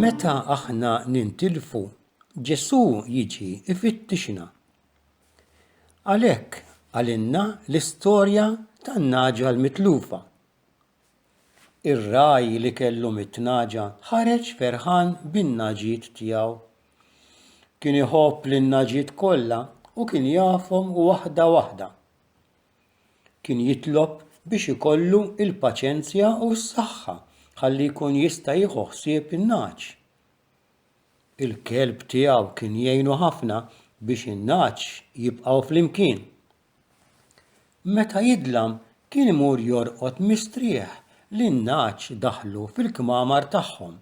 Meta aħna nintilfu, Ġesù jiġi ifittixna. Għalhekk għalinna l-istorja tan-naġa l-mitlufa. Ir-ragħaj li kellu mitt nagħġa ħareġ ferħan bin-nagħġiet tiegħu. Kien iħobb lin-nagħġiet kollha u kien jafhom waħda waħda. Kien jitlob biex ikollu l-paċenzja u s-saħħa ħalli jkun jista' jieħu ħsieb in-nagħaġ. Il-kelb tiegħu kien jgħinu ħafna biex in-nagħaġ jibqgħu flimkien. Meta jidlam kien imur jorqod mistrieħ li n-nagħaġ daħlu fil-kmamar tagħhom.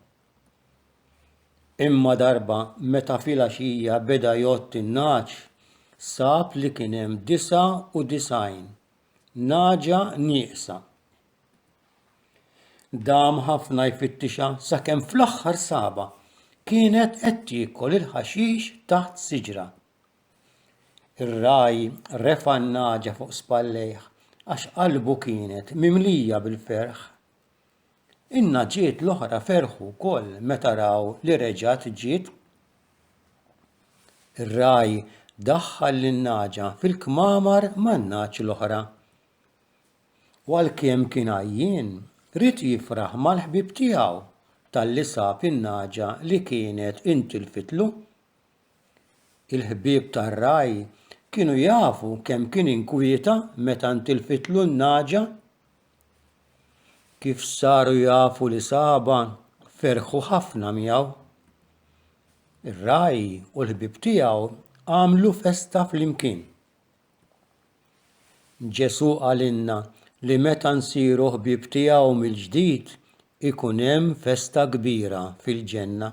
Imma darba meta filgħaxija beda jgħodd in-nagħaġ, sab li kien hemm 99 nagħġa nieqsa. Dam ħafna jfittixha sakemm fl-aħħar sabha kienet qed tiekol il-ħaxix taħt siġra. Ir-ragħaj refa' n-nagħġa fuq spallejh għax qalbu kienet mimlija bil-ferħ. In-nagħġiet l-oħra ferħu wkoll meta raw li reġgħet ġiet. Ir-ragħaj daħħal lin-nagħġa fil-kmamar man-nagħaġ l-oħra. U għalkemm kien għajjien, ried jifraħ mal-ħbieb tiegħu talli sab in-nagħġa li kienet intilfitlu. Il-ħbieb tar-ragħaj kienu jafu kemm kien inkwieta meta ntilfitlu n-nagħġa? Kif saru jafu li sabha, ferħu ħafna miegħu. Ir-ragħaj u l-ħbieb tiegħu għamlu festa flimkien. Ġesù qalilna li meta nsiru ħbieb tiegħu mill-ġdid ikun hemm festa kbira fil-ġenna.